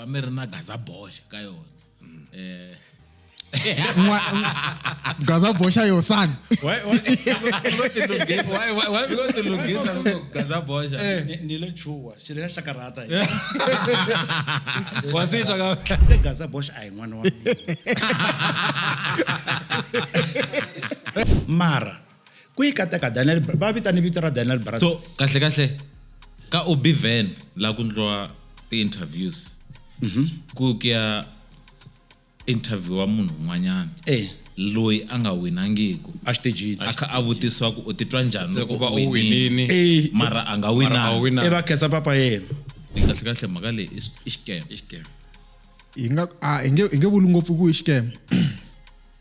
va mi ri na gaza boxa ka yona um eh. gaza boxa yo sani ni le chuwa xi ri ya hlakarhata wa swi twa ka gaza boxa a hi n'wana wa mara ku yi kateka daniel va vitane vito ra daniel brothers so kahle kahle ka obi van la ku ndliwa ti-interviews mhm. ku ku ya interviewa munhu un'wanyana eh. loyi a nga winangiku exitejini a kha a vutisiwa ku u titwa njhani loko u winini eh. mara a nga winangi e va khensa papa yena yi kahle kahle mhaka leyi i xikema yi nga a hi nge vuli ngopfu ku i xikema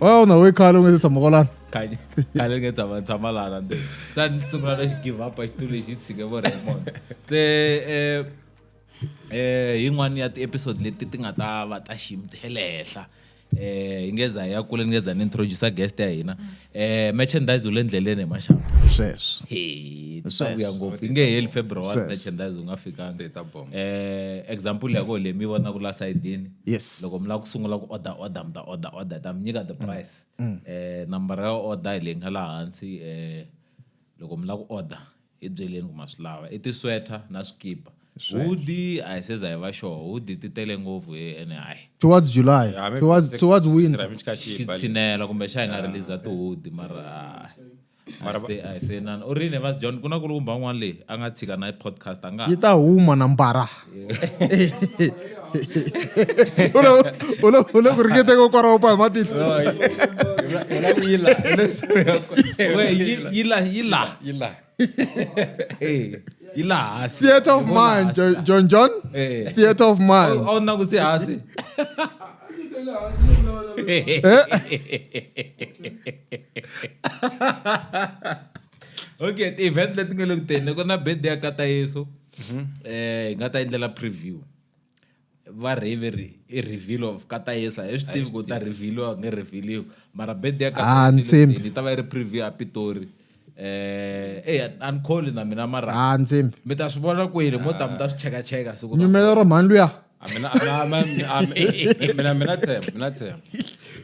why u nga we khale u nga se tshama kwalani khale khale nge tshama tshama lana nde sa ni sungula na xi give up a xitulu lexi tshike vo Raymond se eh eh yin'wana ya ti-episode leti ti nga ta va ta xiyimo ti le henhla eh hi ngeza ya kule ni ngeza ni introduce guest ya hina eh merchandise u le ndleleni hi maxaka sweswo he tisavuya ngopfu yi nge heli february Sweswo. merchandise u nga fikanga ta bomba eh example ya koho leyi mi yi vonaka la sayidini yes loko mi lava ku sungula ku order order mi ta order order ta mi nyika the mm. price mm. eh nambara ya order hi leyi nga laha hansi eh loko mi lava ku order hi byeleni ku ma swi lava i tisweater na swikipa hudi a hi se za hi va sure hudi ti tele ngopfu hi ene hayi towards july towards, towards winter xitsinela kumbe xa hi nga release tihudi mara mara va- se a hi se nana u ri ne va john ku na ku lumba un'wana leyi a nga tshika na podcast a nga yi ta huma na mbara U le- u le- u le ku ringeteni ko kwaraho pa hi matihlo We, yi- yi la yi la Eh, yi la hansi theatre of Yi vona mind hansi. Jo- john john Eh. theatre of mind a wu nakusi hansi okay ti-event leti nga le ku teni ku na bed ya kata yesu um hi nga ta endlela preview va rhiveri i reveal of kata yesu a hi swi tivi ku ta revealiwa nge revealiwa mara bed ya kata yesu le ku teni yi ta va yi ri preview ya pitori eh eh an call na mina mara ha ah, ndzimi mi ta swi vona kwini mo ta mi ta swi cheka cheka siku nyumela ro mhani luya mina mina mina tshemba mina tshemba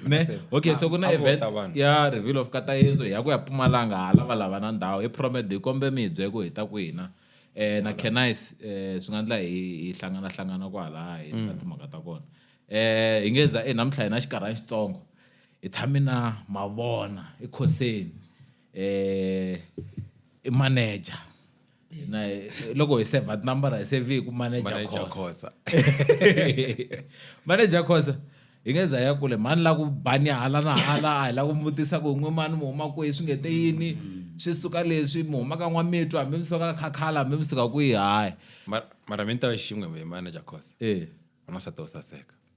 ne okay so kuna event ya reveal of katayezo ya ku ya pumalanga hala va lava na ndhawu hi promet hi kombe mi byele ku hi ta ku hina eh na canice eh swi nga ndla hi hlangana hlangana kwala hi ta mm. timhaka ta kona eh hi ngeza eh namuntlha hi na xikarhana xitsongo hi tshame na mavona ekhoseni eh i manager na loko hi save number hi save hi ku manager khosa manager khosa hi nge za ya kule mhani la ku bani hala na hala a hi la ku vutisa ku n'we mani mi huma kwihi swi nge te yini swi suka leswi mi huma ka n'wamitwa hambi mi suka khakhala hambi mi suka kwihi hayi mara mi ni ta va xin'we manager khosa e eh. wanasati wo saseka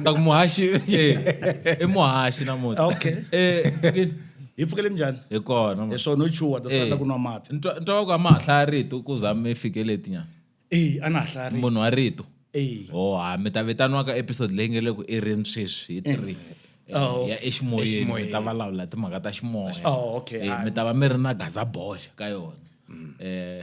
Nda ku muhaxi. I muhaxi namuntlha. Okay. Eh, Fikile, hi pfukele njhani hi kona. hi swona no chuha ta swi ku nwa mati Ntwa ntwa ku a ma ha hlaya rito ku za mi fike leti nyana. eyi a na ha hlaya ri Munhu wa rito. eyi Oh, ha mi ta vitaniwa ka episode leyi nge le ku i rini sweswi hi three. Eh, Oh. ya eximoyeni mi Eximoyeni. ta vulavula hi timhaka ta ximoya. Oh, okay. Eh, mi ta va mi ri na gaza boxa ka yona. Eh,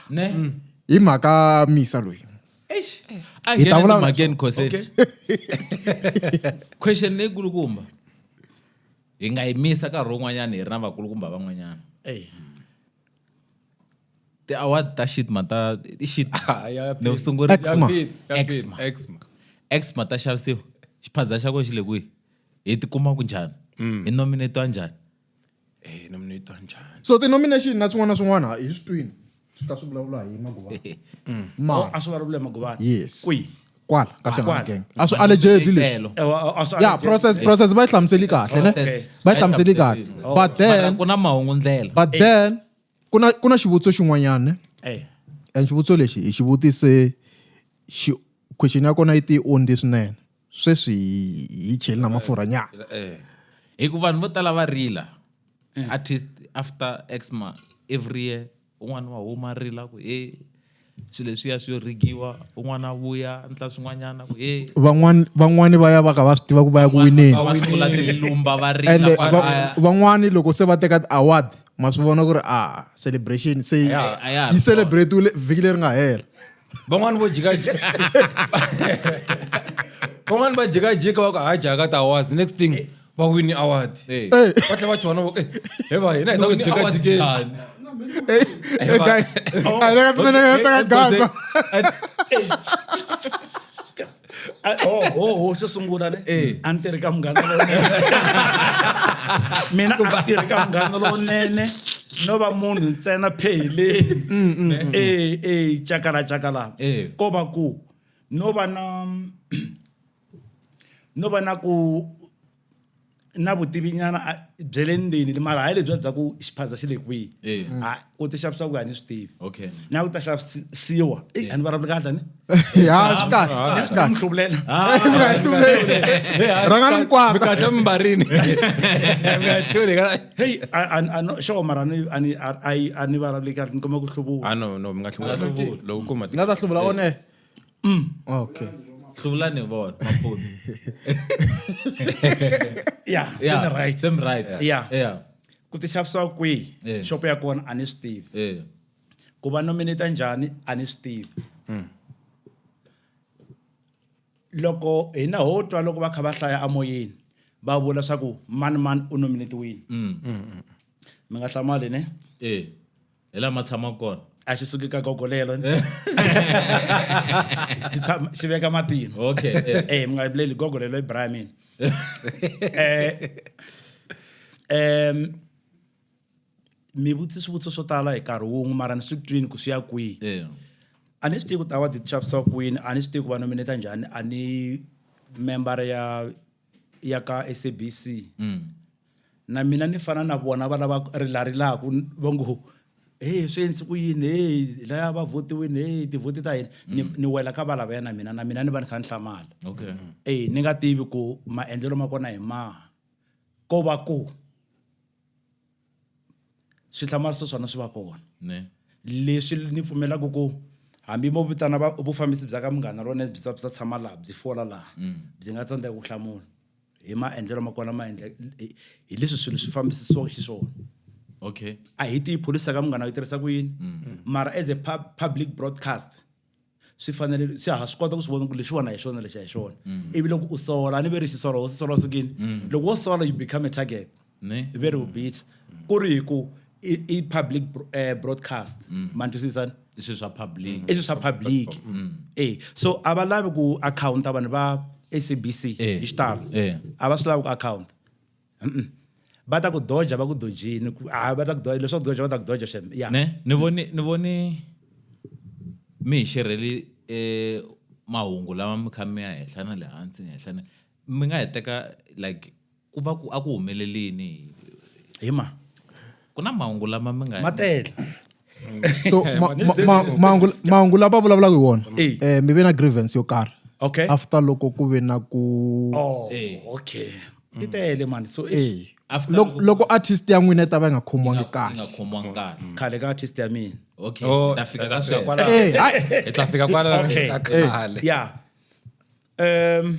ne hi mhaka misa loyi eish a Hi ta nghena vulavula timhakeni khoseni okay question leyikulukumba hi nga yi misa nkarhi wun'wanyana hi ri na vakulukumba van'wanyana Ey. ti-award ta shitma ta i shit Ah, ya- ya- ni u sunguri Eczema. ya- ya- Eczema. Eczema. exma ta xavisiwa xiphaza xa kona xi le kwihi hi tikuma ku njhani hi nominatiwa njhani Eh no mi twa njhani? So ti nomination na swin'wana na swin'wana hi swi twini. Swi ka swi vulavula hi Maguvana. Mm. Mara a swi vulavula Maguvana. Yes. Kwi. Kwala ka Shangana gang. A swi allegedly leswi. Eh, yeah, process process ba yi hlamuseli kahle ne. Ba yi hlamuseli kahle. Oh. But then kuna mahungu ndlela. But eh. then kuna kuna xivutiso xin'wanyana ne. Eh. And xivutiso lexi hi xivutise xi question ya kona yi ti ondi swinene. sweswi hi cheli na mafurha nyana eh, eh. hi ku vanhu vo tala va rila eh. artist after exma every year un'wana wa huma rila ku e swilo leswiya swi yo rigiwa un'wana vuya ndla swin'wanyana ku e van'wani va ya va ka va swi tiva ku va ya ku wineni van'wani loko se va teka ti-award ma swi vona ku ri a ah, celebration se yi celebratiwile vhiki leri nga hela van'wani vo jikajika van'wani va jikajika va ku ha jaka tiawards the next thing va wini award Eh. va tlhe va chona va ku "Eh, he va hina hi ta ku Wini award jikajikeni njhani? Hey guys, I think I'm gonna Hey, hey, gaza. hey, hey, Ah, oh, oh, oh, xo sungula ne eh. a ni tirhi ka munghana lowunene mina a tirhi ka munghana lowunene no va munhu ntsena pheheleni mm, mm, mm, e e cakala cakala eh. ko va ku no va na no va na ku na vutivi nyana bya le ndzeni mara hayi lebyi bya ku xiphaza xi le kwihi eh. ha ku ti xavisa ku ya ni swi tivi okay na ku ta xavisiwa eyi eh. a ni vulavuli kahle ni ya swi kahle ah, swi kahle hluvulela ah, rhanga ni mikwama kahle mimbarini ngahluli ka hey ano sure mara ni ani ai ani vulavuli kahle ni kuma ku hluvuwa ano no mi nga hluvuwa loko kuma ni nga ta hluvula one Mm, okay. hlulane bona maphoni yeah, yeah. Same right. same right Yeah. yeah ku ti xavisiwa kwihi Eh. shop ya kona a ni swi tivi eh ku va nominate njhani a ni swi tivi loko hina ho twa loko va kha va hlaya amoyeni va vula swa ku mani mani u nominetiwile mm mi nga hlamali ne eh hi lama tshamaka kona a xi suki ka gogo lelo xi tshama xi veka matino okay eh. eh mi nga vileli gogo lelo i braya mina eh em mi vutisa swivutiso swo tala hi nkarhi wun'we mara ni swi twini ku swi ya kwihi eh. a ni swi tivi ku ta wa ti xavisa kwini a ni swi tivi ku va nominata njhani a ni member ya ya ka SABC mm. na mina ni fana na vona va lava rilarilaka va ngo he swi endlise ku yini he laya va votiwini he tivhoti ta hina ni mm. ni wela ka valavaya na mina na mina ni va ni kha ni hlamala okay. Mm. e ni nga tivi ku maendlelo ma kona hi maha ko va ku swihlamariso swona swi va kona leswi ni pfumelaka ku hambi mo vitana vufambisi bya ka munghana rona byi byi tshama laha byi fola laha mm. byi nga tsandzeka ku hlamula hi maendlelo ma kona ma endla hi leswi swilo swi fambisisiwaka xiswona okay a hi tiyi pholisi ka munghana yi tirhisa ku yini mm. mara as a pub, public broadcast swi fanele swi ha swi kota ku swi vona ku lexiwani hi xona lexi hi xona mm. ivi loko u sola ni ve ri xisolo wo swi sola sukini mm. loko wo sola you become a target ne ve ri vubihi ku ri hi ku i i public bro- eh, broadcast ma ni twisisa i swilo swa public i swilo swa public e so a va lavi ku akhawunta vanhu va sabc Eh. hi xitalo Eh. a va swi lavi ku akhawunta Mm-mm. va ta ku doja va ku dojini ku- ah, va ta ku doja leswaku doja va ta ku doja shem ya ne ni voni ni voni mi hi xerheli eh mahungu lama mi kha mi ya henhla na le hansi ni henhla ni mi nga hi teka like Ku va ku a ku humelele yini hi Hi ma. ku na mahungu lama mi nga Ma tele. so ma- ma- ma- mahungu mahungu lava vulavulaka hi wona Eh. eh, mi ve na grievance yo karhi Okay. after loko ku ve na ku Oh, Eh. okay. Ti tele mani. So eh, Eh, After loko loko- loko artist ya n'wina yi ta va yi nga khomiwangi yi nga kahle khomiwanga kahle khale ka artist ya mina. okay Oh, ta fika ka ta fika sweswo kwala- Eh, hayi. hi ta fika kwala Okay. ka khale. Yeah. Um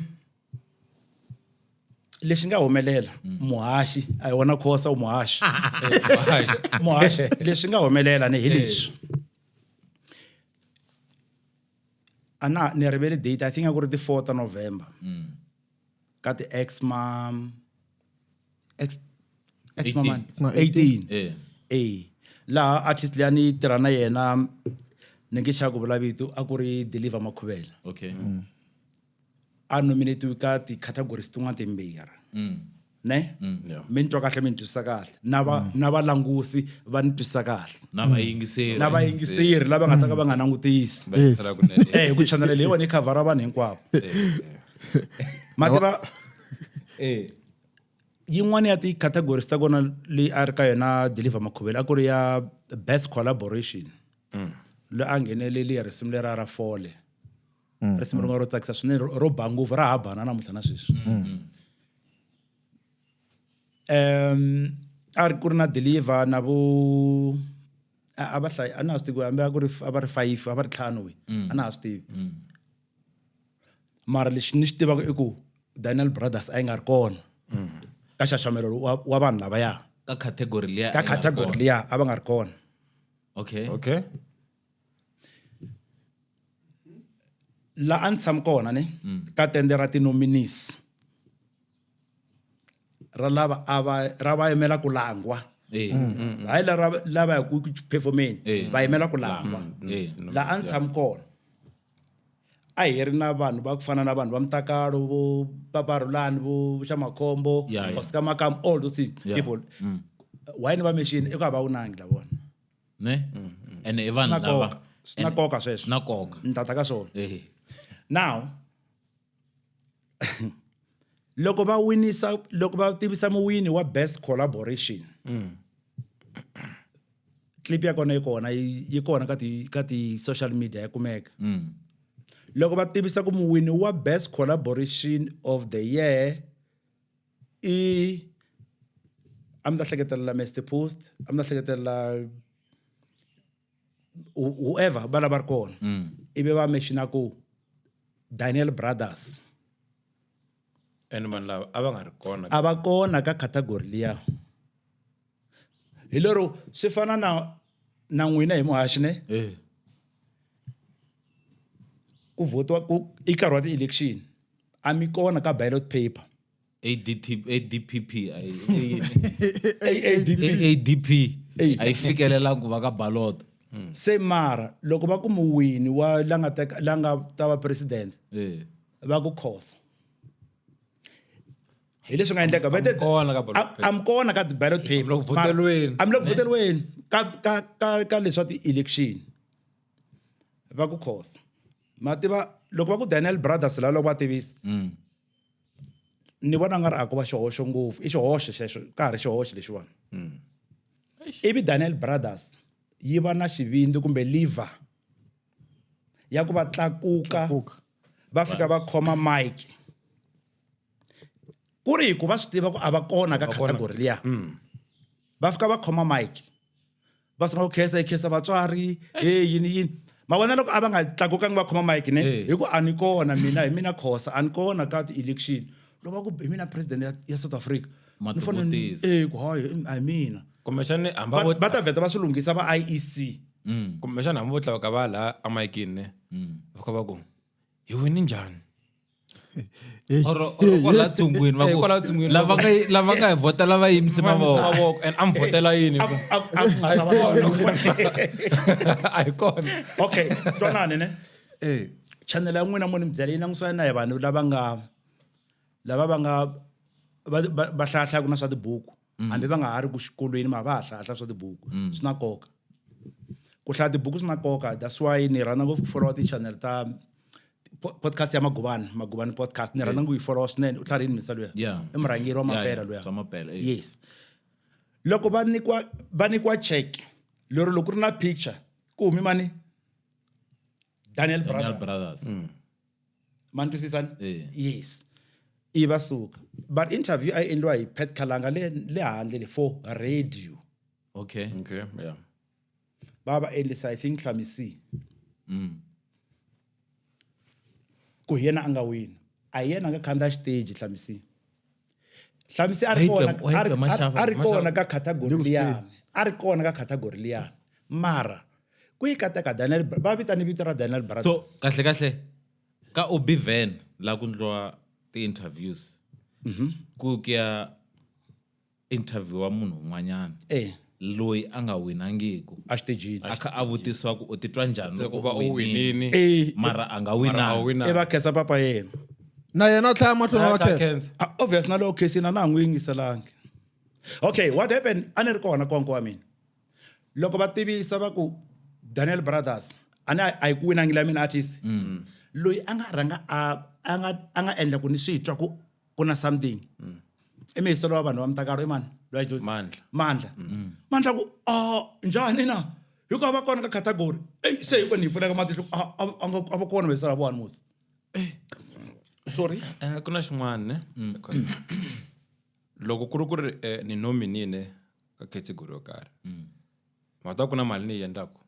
lexi nga humelela mm. muhaxi a hi wona khosa u muhaxi muhaxi leswi nga humelela ni hi leswi a na ni rivele date i think a ku ri ti-four ta november mm. ka ti-ex mam ex ex maman 18 eh hey. laha artist leyi a ni tirha na yena ni nge xa ku vulavito a ku ri deliver makhuvela okay mm. a nominatiwe ka ti-categories tin'wana timbirhi mm. ne mm. yeah. mi ni twa kahle mi ni twisisa kahle na va mm. na valangusi va ni twisisa kahle na vayingiseri na vayingiseri lava nga ta ka va nga langutisi eh ku chanela leyi wona yi khavhara vanhu hinkwavo mativa eh yin'wana ya ti-categories ta kona leyi a ri ka yona deliver makhuvelo a ku ri ya best collaboration mm. loyi a ngheneleli ya risimu lera ra fole mm, risimu mm. rin'wana ro tsakisa swinene ro ba ngopfu ra ha bana namuntlha na sweswi mm, um a ri ku ri na deliver na vo a va hlayi a na ha swi tivi hambi a ku ri a va ri five a va ri ntlhanu we a na ha swi tivi mara lexi ni xi tivaka i ku daniel brothers a yi nga ri kona ka xaxamelo wa vanhu lavaya ka category liya ka category liya a va nga ri kona okay okay la a ni tshami kona ne mm. ka tende ra tinominis ra lava ava ra va yimela ku langwa eh. mm, mm, hayi la lava ya ku performeni eh. va yimela ku langwa la a ni tshami kona a hi ri na vanhu va ku fana na vanhu va mutakalo vo paparulani vo xamakhombo osika makam all those people why ni va mexini i ku a va wunangi lavona ne mm-hmm. ene i vanhu lava swi na nkoka sweswo swi na nkoka ni tata ka swona now loko va winisa loko va tivisa muwini wa best collaboration mm. clip ya kona yi kona yi kona ka ti ka ti social media ya kumeka mm. loko va tivisa ku muwini wa best collaboration of the year i a mi ta hleketelela Mister Post a mi ta hleketelela whoever va lava ri kona mm. ivi va mexina ku Daniel Brothers and vanhu lava a va nga ri kona a va kona ka category liya hi lero swi fana na na n'wina hi muhaxi ne eh. ku votiwa ku i nkarhi wa ti-election a mi kona ka ballot paper adpp adp a yi fikelelangi ku va ka baloto hmm. se mara loko va ku muwini wa la nga la nga ta va president eh. va ku khosa hi leswi nga endleka vete kona ka ballot paper. am kona ka ballot paper Amlo voteriweni. amlo voteriweni ka ka ka ka leswa ti election va ku khosa mativa loko va ku Daniel Brothers la loko va tivisa Mm. ni vona nga ri a ko va xihoxo ngopfu i xihoxo xexo ka ha ri xihoxo lexiwani Mm. ivi Daniel Brothers yi va na xivindzi kumbe liver ya ku va tlakuka Tlakuka. va fika va khoma mike ku ri hi ku va swi tiva ku a va kona ka category liya mm. va fika va khoma mike va sungula ku khesa yi khesa vatswari e yini yini ma vona loko a va nga tlakukangi va khoma mike ne hi ku a ni kona mina hi mina khosa a ni kona ka ti-election lo va ku hi mina president ya south africa ni fanele e ku hayi i mina kumbexani va ta vheta va swi lunghisa va i e c mm. kumbexani hambi vo tlakuka va laha amayikini ne mm. va kha va ku hi wini njhani lava nga hi vhota lava yimise mavoko and a mi vhotela yini a ku nga ta va a hi kona okay twanani ne chanele ya n'wina mo ni mi byela yi langusana na hi vanhu lava nga lava va nga va hlayahlayaku na swa tibuku mm. hambi va nga ha ri ku xikolweni ma va ha hlahla swa tibuku mm. swi na nkoka ku hlaya tibuku swi na nkoka that's why ni rhandza ngopfu ku followa ti-channel ta podcast ya magubani magubani podcast ni rhandza ku yi followa swinene u tlharini misa luya i murhangeri wa mapela luya eh. yes loko va nyikiwa va nyikiwa check lero loko ku ri na picture ku humi mani daniel brothers, daniel brothers. Mm. ma ni twisisani Eh. yes i va suka but interview a yi endliwa hi pat khalanga le le handle le for radio okay Okay, yeah. va va endlisa i think hlamisi Mm. ku hi yena a nga wina a hi yena a nga khandziya xiteji hlamisi hlamisi a ri Wait, kona wait, a ri- a ri- Mashava, a ri Mashava. kona ka category Look, liyani a ri kona ka category liyani mara ku yi kateka daniel Bra- va vitane vito ra daniel so brothers kahle kahle ka obiven la ku ndliwa ti-interviews ku ku ya interview-a munhu un'wanyana Eh. loyi a nga winangiku a xitejini a kha a vutisiwa ku u titwa njhani Se ku loko va u u winini winini Eh, mara a nga mara a wu winanga i va winanga khensa papa yena na yena a tlhaya mahlweni Tlhaya, wa tlhaya, khensa khensa. Ah, obvious na loko khesini a na ha n'wi yingiselangi okay what happened a ni ri kona konko wa mina loko va tivisa va ku daniel brothers a ni a yi ku winangi la mina artist loyi a nga rhanga a a nga a nga endla ku ni swi twa ku ku na something mm. i mihiselo wa vanhu va mutakalo i mani loyi a dyondzimandla mandla mm. mandla ku a ah, njhani na hi ku a va kona ka category ei se hi ku ni hi pfuneka matihlo a ah, ah, a va kona mihiselo ya vona musi eh, sorry eh, ku na xin'wana ne mm. loko ku ri ku ri eh, ni nominine ka category yo karhi mata ku na mali ni yi endlaku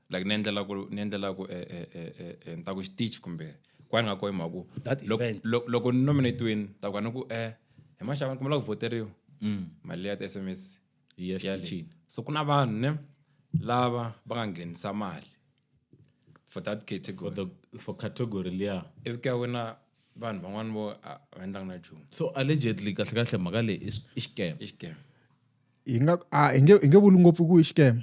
like ni endlela ku ni endlela ku eh, eh, eh, eh, ni ta ku xitichi kumbe kwani nga kohi mhaku That event. loko ni nominatiwini ta ku a ni ku eh hi maxava ni kumela ku voteriwa Mm. mali ya ti-s m s Yi ya yale. xitichini. so ku na vanhu ne lava va nga nghenisa mali for that category The- for category liya ivi ka wena vanhu van'wani vo a va endlanga na nchumu so allegedly kahle kahle mhaka leyi i s- i scam i xikema hi nga a hi nge hi nge vuli ngopfu ku i xikema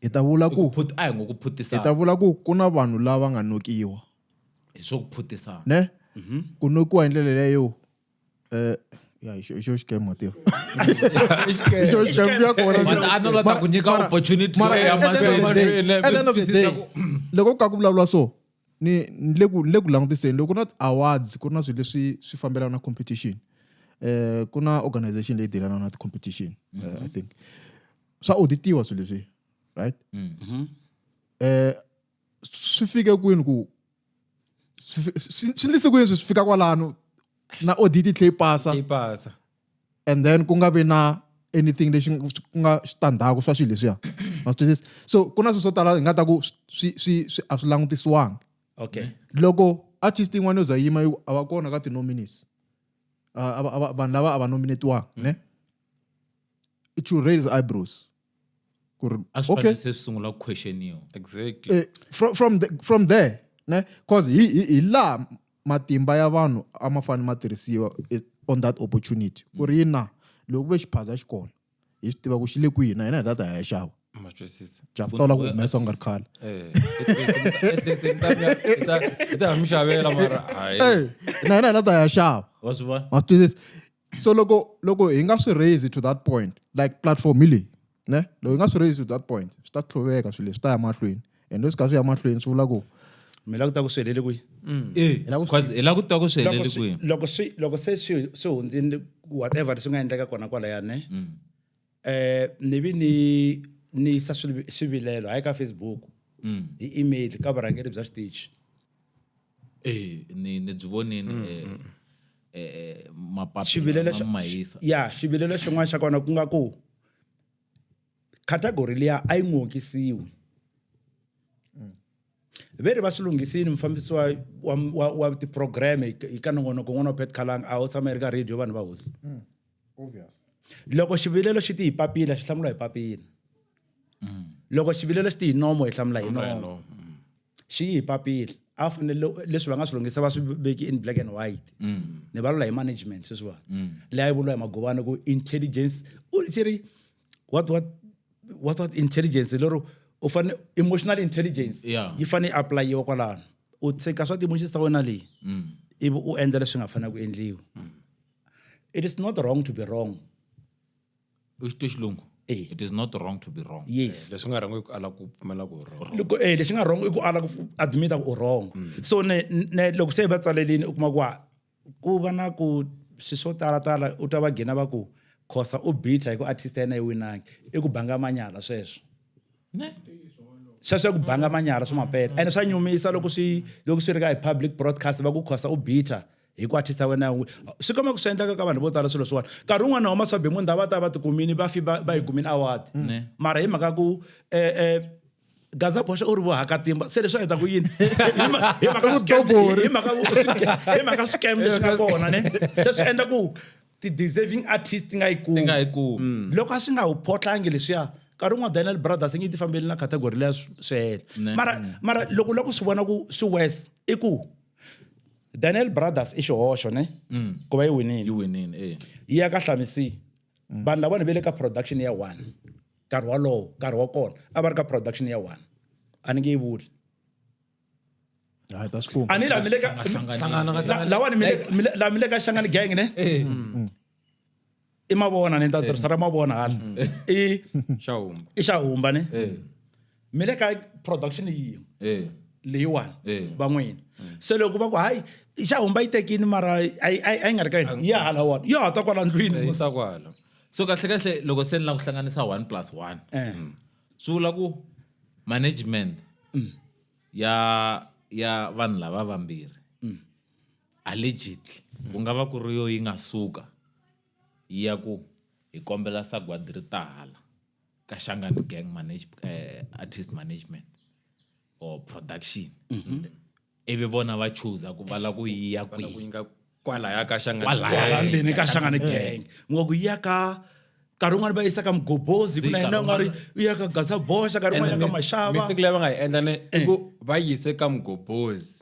hi ta vula ku a hi ngo ku phutisa hi ta vula ku ku na vanhu lava nga nokiwa hi swo ku phutisa ne mhm. ku nokiwa hi ndlela leyo eh ya hi xo xikem matiro hi xo xikem ya kona ana la ta ku nyika opportunity ya mahlweni at the end of the day loko ku ka ku vulavula so ni ni le ku ni le ku langutiseni loko ku na awards ku ri na swilo leswi swi fambelana na competition eh ku na organization leyi delanaka na ti-competition eh, i mhm. think swa auditiwa swilo leswi right mm-hmm. eh swi fike kwini ku swi endlise kwini swi fika kwalano na audit yi tlhe pasa yi pasa and then ku nga vi na anything lexi ku nga xitandzhaku swa swilo leswiya ma twisisa so ku na swilo swo tala hi nga ta ku swi swi swi a swi langutisiwangi okay loko artist yin'wana yo za yima yi a va kona ka ti-nominees vanhu lava a va nominetiwanga ne it should raise eyebrows ku ri a swi okay fanele se swi sungula ku questioniwa exactly eh, from, from, the, from there ne cause hi, hi, hi laha matimba ya vanhu a ma fanele ma tirhisiwa eh, on that opportunity ku ri yina loko ku ve xiphaza xi kona hi swi tiva ku xi le kwihi na hina hi tata hi ya xava ma twisisa javu ta lava ku humesa u nga ri khale eh at least hi ta mi ya- hi ta- hi ta ha mi xavela mara hayi Eh, na hina hi tata hi ya xava wa swi vona ma swi twisisa so loko loko hi nga swi raise to that point like platform hi leyi ne loko hi nga swi raise to that point swi ta tlhoveka swilo swi ta ya mahlweni and leswi ka swi ya mahlweni swi vula ku mi la ku ta ku swi helele kwihi mm. eh, hi lava ku swi- hi la ku twa ku swi helele kwihi loko swi loko se swi swi hundzini whatever swi nga endleka kona kwalayani mm. Eh, ni vi ni ni yisa swivi- swivilelo hayi ka facebook hi email ka vurhangeri bya xitichi Eh, ni ni byi vonini eh, eh, eh, mapapila xivilelo ma xa- ma hisa ya xivilelo xin'wana xa kona ku nga ku category liya a yi n'wi hokisiwi ve ri va swi lunghisini mufambisi wa wa wa, wa tiprograme hi ka nongonoko n'wana wa petcalang a ho tshama yi ri ka radio vanhu va hosi mm, obvious loko xivilelo xi ti hi papila xi hlamula hi papila mm. loko xivilelo xi ti hi nomo hi hlamula hi nomo mm. xi yi hi papila a fanele leswi va nga swi lunghisa va swi veki in black and white mm. ni valula hi management sweswiwani mm. leyi a yi vuriwa hi magobana ku intelligence u xi ri what what what what intelligence lero u fane emotional intelligence yeah. yi fane applyiwa kwalano u tshika swa ti-emotions ta wena leyi mm. ivi u endla leswi nga fanela ku endliwa mm. it is not wrong to be wrong u xi twe xilungu Eh. it is not wrong to be wrong yes eh, leswi nga wrong i ku ala ku pfumela ku wrong loko eh leswi nga wrong i ku ala ku admita ku wrong mm. so ne ne loko se va tsalelini u kuma ku ku va na ku swi swo talatala u twa va gina va ku khosa u bitha hi ku artist ya yena yi winangi i ku banga manyala sweswo ne sweswo ku banga manyala swi mapeta ene swa nyumisa loko swi loko swi ri ka hi public broadcast va ku khosa u bitha hi ku artist ya wena swi komba ku swi endlaka ka vanhu vo tala swilo swin'wana nkarhi wun'wana homa swa bemunda va ta va tikumini va fi va yi kumini award mara hi mhaka ku um gaza boxa u ri vohakatimba se leswi a heta ku yini hi mhaka swicam leswi nga kona ne se swi endla ku ti-deserving artist ti nga yi kumi mm. loko a swi nga wu photlangi leswiya nkarhi un'wana daniel brothers nge yi ti fambeli na category leya swi hela mara mara loko la ku swi vona ku swi wes i ku daniel brothers i xihoxo ne mm. ku va yi winile yi eh. ya ka hlamisi mm. vanhu lavona ve le ka production ya one nkarhi wolowo nkarhi wa kona a va ri ka production ya one a ni nge yi vuli a ni la mi le ka lawa ni la mi le ka xangani gang ne eh. mm. i mavona ni ta eh. tirhisa ra mavona hala mm. i i xahumba ne eh. mi le ka production yin'we Eh. leyiwani Eh. van'wini se loko va ku hayi i xa humba yi tekini mara a yi- a yi a yi nga ri ka yini ya hala wona yo hata kwala ndlwini Eh, yisa kwala so kahle kahle loko se ni lava ku hlanganisa one plus one Eh. swi vula ku management Mm. ya ya vanhu lava vambirhi Mm. allegedly ku nga va ku ri yo yi nga suka yi ya ku hi kombela sagwadi ri tahala ka shangani gang manage, eh, artist management or production ivi vona va choosa ku va la ku yiya Vana kwihi kuinga kwalaya ka shangani Kwalaya. Gang. ndzeni ka shangane gang ngo ku ya ka nkarhi wun'wana va yisa ka mugobozi ku na yena u nga ri u ya ka gasa boxa nkarhi wun'wana ya ka mashava mistake leyi va nga yi endla ne i ku va yise ka mugobozi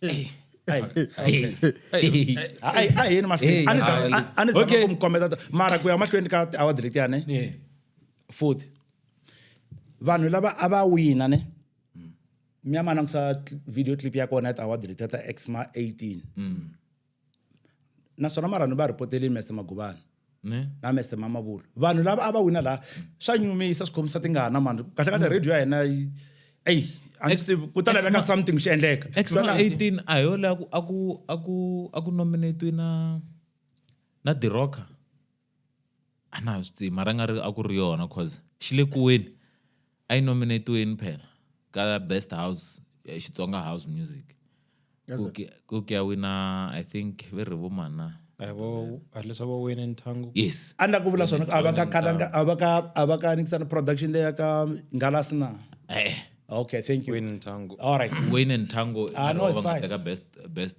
Hey. Hey. Hey. Hey. A- a- a hi yeni mahlweni. Hey, A ni za- a- a- a ni zama Okay. ku mi kombeta to- mara ku ya mahlweni ka tiaward letiya ne Yeah. futhi vanhu lava a va wina ne mi ya ma langusa cl- video clip ya kona ya tiaward letiya ta exma 18 naswona mara ni va rhipoteli mese maguvana ne na mese mama vulu vanhu lava a va wina laha swa nyumisa swi khomisa tingana mani kahle kahle radio ya hina yi- eyi a ni Ex- swi tivi, ku ta ex- laveka ma- something xi endleka ex Swi ma na- 18 a hi yo leyi a ku- a ku a ku a ku nominatiwe na na dirocker A na ha swi tivi mara a nga ri a ku ri yona cause xi le kuweni a yi nominate-weni phela ka best house eh, Xitsonga house music Yes, sir. ku ke- ku ke ya wina I think ve ri vo mani na a hi vo a hi leswi va wine nthangu yes a ni la ku vula swona a va ka kalanga a va ka a va ka nikisana production leya ka ngalasi na eh okay thank you wine nthangu all right wayne and tango Ah, no, it's fine. ka best best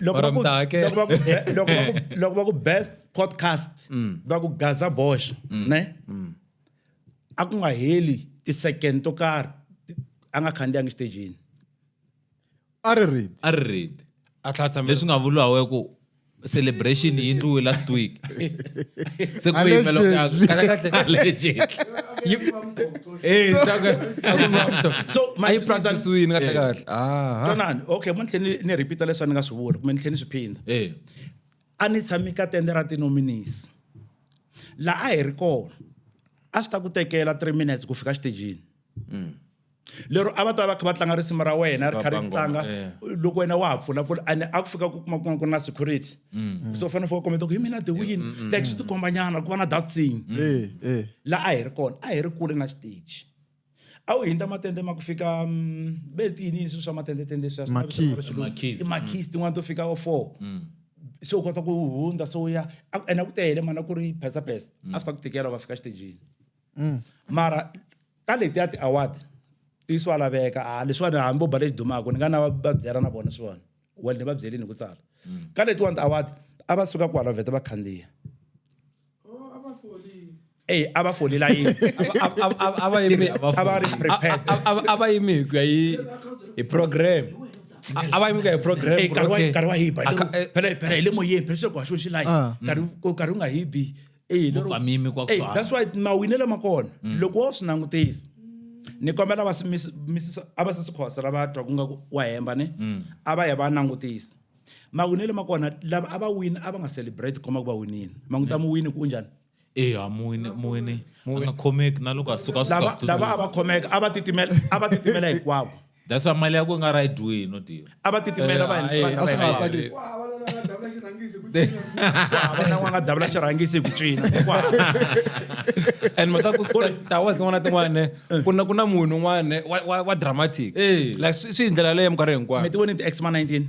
loko va Or ku- mtake. loko va ku be- loko va ku- loko va ku best podcast va ku gaza bosh ne a ku nga heli ti-second to karhi ti- a nga khandziyangi xitejini a ri read a ri read a tlhatsa leswi nga vuriwa we ku celebration yi ndliwe last week se ku yimela Allegedly. Kahle, kahle. Allegedly. Hey, Tsaka, Tsaka, so ma yi twisisa- practice-wini kahle Eh, kahle. Aha. tonani okay mo ni tlhe ni- ni repeata leswi a ni nga swi vula kumbe ni tlhe ni swi phinda Eh, a ni tshami ka tende ra tinominis laha a hi ri kona a swi ta ku tekela three minutes ku fika xitejini lero a va ta va kha va tlanga risimu ra wena ri kha ri Baba ngoma, tlanga eh. loko wena wa ha pfulapfula ene a ku fika ku kuma kuma ku ri na security Mm. so fanele fo kometa ku hi mina the mm, win mm, like swi tikombanyana ku va na that thing eh, eh. laha a hi ri kona a hi ri kule na xiteji a wu hindza matende ma ku fika ve ri tiyini swilo swa matendetende swimakhisi tin'wana to fika o four se u kota ku hundza se u ya ene a ku tele mana ku ri phesa phesa a swi ta ku tikela va fika xitejini mara ka letiya ti-award ti swa laveka a leswiwani hambi bo bale xi dumaka ni nga na va byela na vona swiwani well ni va byelini hi ku tsala mm. ka letiwani tiawadi a va suka kwala vheta va khandziya eyi a va folela yini a va yimi hi ku ya hi program a va yimika hi programkarhi wa hiba phela hi le moyeni phela sweswi ku haxiwe xilayi karhi u nga hibi Eyi, lero- Vupfamimi kwa ku Eyi, tshwana. that's why mawinelo ma kona loko wo swi langutisa ni kombela va swi mis- misisa a va se swi khosa lava twa ku nga ku wa hemba ne a va ya va langutisa mawinelo ma kona lava a va wini a va nga celebrate ku komba ku va winile manguta muwini ku u njhani eya muwini muwini a nga khomeki na loko a suka a suka lava ku lava a va khomeka a va titimela a va titimela hinkwavo That's why mali ya ku nga right way no deal. A va titimela va Eh, va- a va- swi nga va- tsakisi. Ku hava lona nga davula xirhangisi hi ku cinca. ku hava na n'wana nga davula xirhangisi hi ku cina Ku hava. and mhaka ku ku ri towers tin'wana na tin'wana ku na ku na munhu un'wana wa- wa wa dramatic Eh. like swi swi hi ndlela leyo minkarhi hinkwayo mi ti voni ti-x ma 19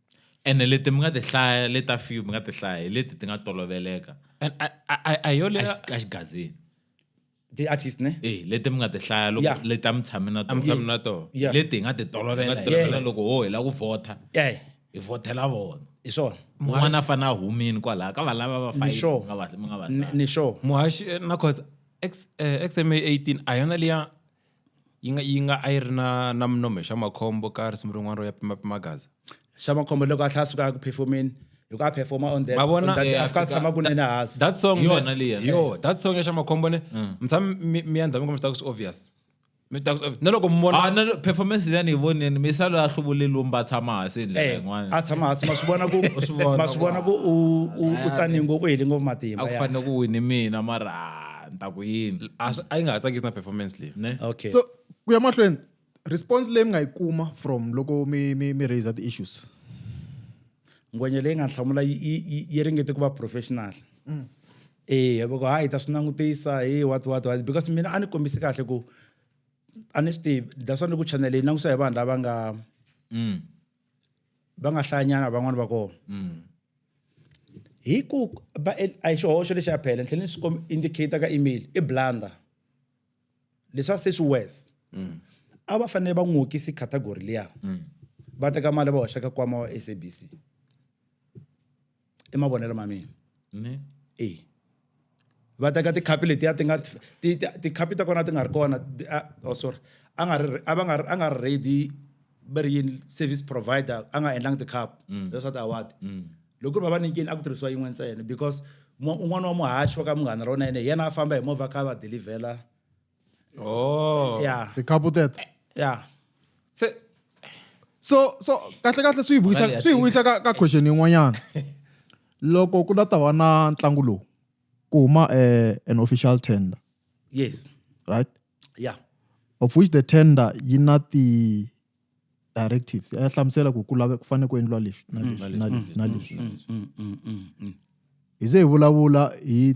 ene leti mi nga ti hlaya le ta few mi nga ti hlaya hi leti ti nga toloveleka And I, I, I, I yo leya ka xigazini ti artist ne eh leti mi nga ti hlaya loko Yeah. leti a mi tshame na a mi tshami na tona Yeah. leti hi nga ti tolovela Nga hi tolovela. yena loko ho hi lava ku vhota eh hi vhotela vona hi swona un'wana a fanele a humini kwalaha ka valava va Ni sure. mi nga va mi nga va Ni- hlaya. ni sure muhaxi eh, na cause X, eh, xma 18 a yona liya yi nga yi nga a yi ri na na minome xa makhombo ka risimu rin'wana ro ya pima pima gaza xa makhombo loko a tlha a suka a ku performeni hi ku a performa on that Ma vona? on that Eh, a fika a tshama kunene hansi that song Hi yona man, liya. hi yo that song ya xa makhombo ne mtshami mi mi yandza mi kuma swi swi obvious mi ta ku swi obvious. na loko mi vona Ah, no, no, performance leyi a ni yi voneni misalo ya hluvuleli umba a tshama hansi hi ndlela Eh, a yin'wana tshama hansi ma swi vona ku swi vona ma swi vona ku u u- u tsani ngopfu u heli ngopfu matimba a ku ya. fanele ku wini mina mara ah, a ni ta ku yini a swi- a yi nga ha tsakisi na performance leyi ne okay so ku ya mahlweni response leyi mi nga yi kuma from loko mi mi mi raise ti-issues ngwenya leyi nga hlamula yi- yi yi- yi ringete ku va professional eya voko hayi hi ta swi langutisa hi what what what because mina a ni kombisi kahle ku a ni swi tivi that's why ni ku channel leyi langutisa hi vanhu lava nga Mm. va nga hlayanyana van'wani va kona mm. hi ku va a hi xihoxo lexi ya phela ni tlhele ni swi indicator ka email i blunder leswa se swi worse mm. a va fanele va n'wokisi category liya mm. va teka mali va hoxa ka kwama wa sabc i mavonelo ma mina ne e va teka tikhapi letiya ti nga ti tikhapi ta kona ti nga ri kona oh sorry a nga ri a va nga a nga ri ready va ri yini service provider a nga endlangi tikhapu mm. leswaku award mm. loko ku ri va va nyikini a ku tirhisiwa yin'we ntsena because un'wana wa muhaxi wa ka munghana ra wona yena hi yena a famba hi movha kha va delivhela Oh. Yeah. The couple death. Yeah. So, so so kahle kahle swi vuyisa swi vuyisa ka ka question yin'wanyana loko ku la ta va na ntlangu lowu ku huma eh, an official tender yes right yeah of which the tender yi na ti directives ya hlamusela ku ku lave ku fanele ku endliwa leswi na mm. leswi na leswi na mm. leswi mm, hi ze hi vulavula hi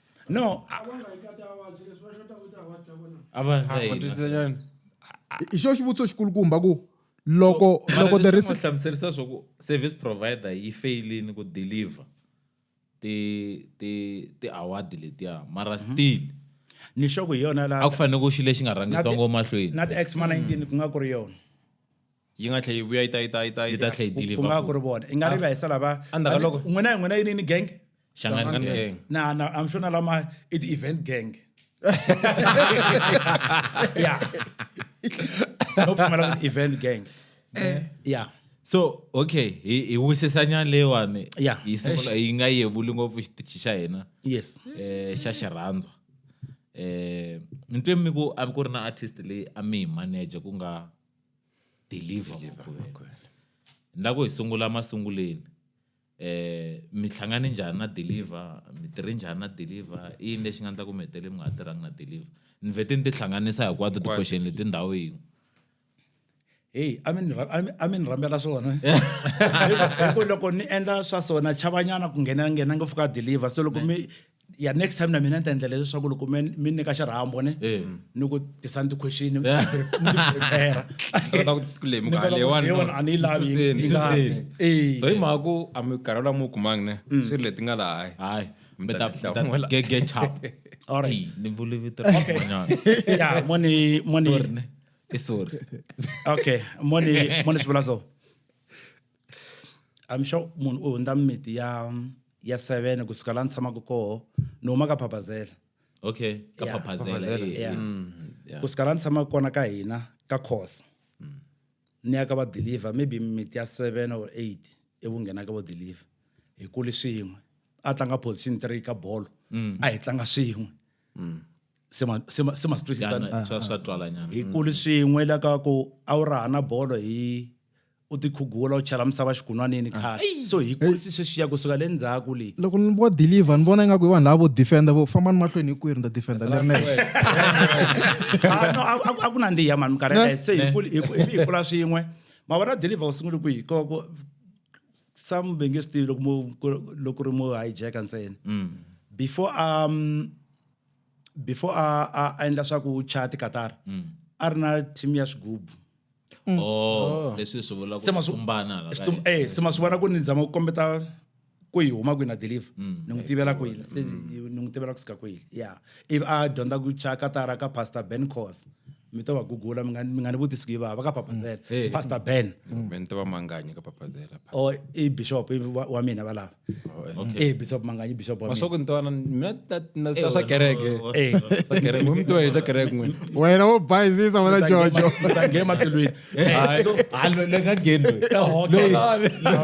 no avataina hi xo xivutiso xikulukumba ku loko loko the risk hlamuserisa swa ku service provider yi failini ku deliver ti ti ti award letiya mara mhm. still ni xo ku hi yona la a ku fanele ku xi lexi nga rhangisiwa ngo mahlweni na ti x ma 19 ku nga ku ri yona yi nga tlhe yi vuya yi ta yi ta yi ta yi ta tlhe yi deliver ku nga ku ri vona i nga ri va hisa lava endzhaku loko n'wina n'wina yi ni gang hlangani gang na na i'm sure na lama i ti event gang ya no pfumela ku event gang eh. ya so okay hi hi wisisanyana leyiwani ya yi sungula yi nga yevuli ngopfu xitichi xa hina yes eh xa xirhandzwa eh ntwe mi ku a ku ri na artist leyi a mi hi manager ku nga deliver makwenu ni lava ku hi sungula masunguleni eh mi hlangane njhani na deliver mi tirhe njhani na deliver i yini lexi nga endla ku mi hetelele mi nga ha tirhangi na deliver ni vhete ni tihlanganisa hinkwato ti-question leti ndhawu yin'we heyi a mi ni rha- a mi- a mi ni rhambela swona Hi ku- hi ku loko ni endla swa swona chavanyana ku nghenela nghena ngopfu ka deliver so loko mi ya next time na mina ni ta endlela leswaku loko mi mi nyika xirhambo ne Eh. ni ku tisa ni ti-question ni Yeah. prepare kota ku ku lemuka Ni kota ku- leyiwani no, leyiwani a ni yi lavi, yi suseni, yi lavi. suseni. Eh. so hi mhaka ku a minkarhi lawa mi wu kumangi ne swi ri leti nga laha hayi hayi Mi mi ta ta ti hlamula. gege chap All right. ni vuli vito ra van'wanyana. ya moni moni Sorry, ne. i sorry okay moni moni swi vula so i'm sure munhu u hundza mimiti ya ya 7 kusuka la ni tshamaka koho ni huma ka phaphazela okay ka Yeah, phaphazela Phaphazela, eh, yeah. mm, yeah. kusuka la ni tshamaka kona ka hina ka course ni ya ka va deliver maybe miti ya 7 or 8 ivu nghena ka vo deliver hi kuli swin'we a tlanga position 3 ka bolo a hi tlanga swin'we se ma- se ma- se ma swi twisisa Yana, swa swa twalanyana hi kuli swin'we la ka ku a wu raha na bolo hi u tikhugula u chela misava xikunwanini ah. khale so hi kurisi sweswiya kusuka le ndzhaku leyi loko ni vo deliver ni vona ingaku i vanhu lava vo defenda vo fambani mahlweni hi kwihi ni ta defenda ni ri nexe a ku nandziha mani minkarhi yeleyo se hi kula swin'we ma vona deliver u sungule kwihi koko some ve nge swi tivi loko ri mo hijacka ntsena mm. before um before a a endla swa ku chaya tikatara mm. a ri na team ya swigubu Mm. Oh, leswi swi vula ku tumbana la ka eh se masuvana ku ni ndzama ku kombeta ku yi huma kwini a deliver mm. ni n'wi tivela kwini se mm. ni n'wi tivela kusuka kwini ya ivi a dyondza ku cha katara ka pastor ben cos mi to va gugula mi nga ni vutisi ku yi vava ka papazela mm. eh. pastor ben mi ni tiva manganya ka papazela o oh, i bishop wa mina valava Eh bishop manganya bishop wa masoko mina. ntwana mina ta- na- ta swa kereke Eh. Swa kereke. Mu mutiwa hi swa kereke n'wina wena wo bayizisa wena jojo Utange ematulwini. Eh, so-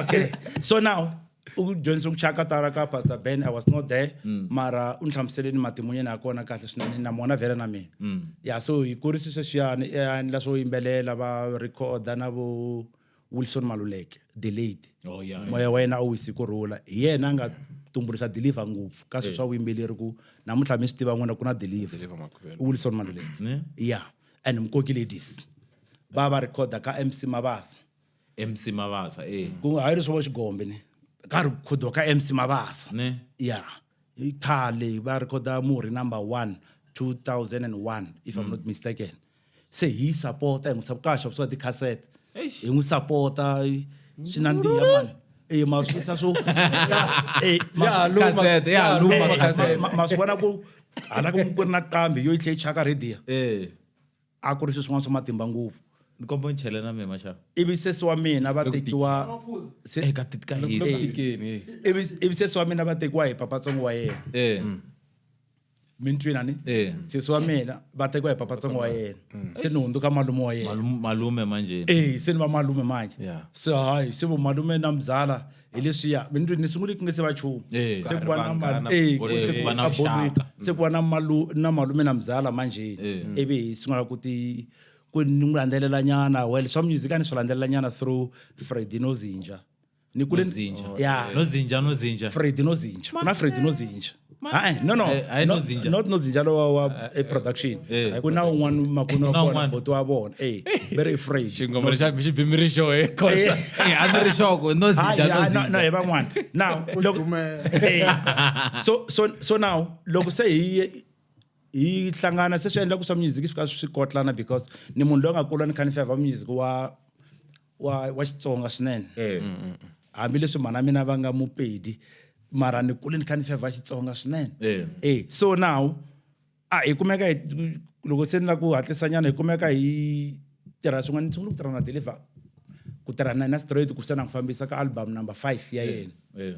okay so now ujonisa ukuchaka tara ka pastor ben i was not there Mm. mara u ni hlamuseleni matimu yena ya kona kahle swinene na mona vhele na mina Mm. ya so hi kurisiswe swiyani eh, a endla swo yimbelela va recorda na vo wilson maluleke the late oh, yeah, moya yeah. wa yena a wu hisi ku rhula hi yena a nga tumbuluxa deliver ngopfu ka swilo swa vuyimbeleri ku namuntlha mi swi tiva n'wina ku na deliver wilson maluleke ya yeah. and mkoki ladies va va rhekhoda ka mc mabasa mc mabasa e eh. ku hayi leswo va xigombe ni ka rhikhodiwa ka mc mabasa ya yeah. khale va rhekhoda murhi number one 2001 if mm. i'm not mistaken se hi yi sapota hi n'wi sapo ka ha xavisiwa tikhasete Eish. hi n'wi sapota swi nandziha mani e ma swi tisa swo Eh, ma- Ya ha luma, Cassette, ya ha ya luma luma ma- cassette. ma- ma swi vona ku hala ku ku ri na qambi yo yi tlhe yi chaka radiya Eh, a ku ri swi swin'wana swa matimba ngopfu ni komba ni chele na mina maxava ivi sesi wa mina va tekiwa se- eka titika Loko- loko tikeni, eh. ivi ivi sesi wa mina va tekiwa hi papatsongo wa yena eh. mintwina ni Eh. sesi wa mina va tekiwa hi papatsongo wa yena se ni hundzuka malume wa yena Malum- malume manjeni Eh, se ni va malume manje Yeah. se hayi se vomalume na mzala hi leswiya mi ni ni sungule ku nge se va chumu Eh. se ku va na Vanghana, mal- eh, bolo- se ku eh, va na a bolweni. vuxaka. se ku va na malu- na malume na mzala manjeni Eh. ivi hi sungula ku ti ku ni n'wi landzelela nyana well swa music a ni swi landzelela nyana through fredino zinja ni kule Nozinja. ya nozinja nozinja Freddy Nozinja kuna Freddy Nozinja Hayi, no no Eh, hayi no- Nozinja. not Nozinja lo wa- wa eh, production eh, kuna un'wana makunu wa Kuna kona un'wana. boti wa vona eh very afraid xingomelo xa xi bimiri xo he khosa Eh, a ni ri xoko Hayi, nozinja hayi, no, no, nozinja hi van'wana now loko Dumela. Eh, so so so now loko se hi hi hlangana se swi endla ku swa music swi ka swi kotlana because ni munhu loyi a nga kula ni kha ni favor music wa wa wa Xitsonga swinene eh. mm, mm, mm. hambileswi mhana mina va nga mupedi mara ni kule ni kha ni fevha Xitsonga swinene eh. eh so now a hi kumeka loko se ni la ku hatlisa nyana hi kumeka hi tirha swin'wana ni sungula ku tirha na deliver ku tirha na na straight ku se na ku fambisa ka album number 5 ya yena eh.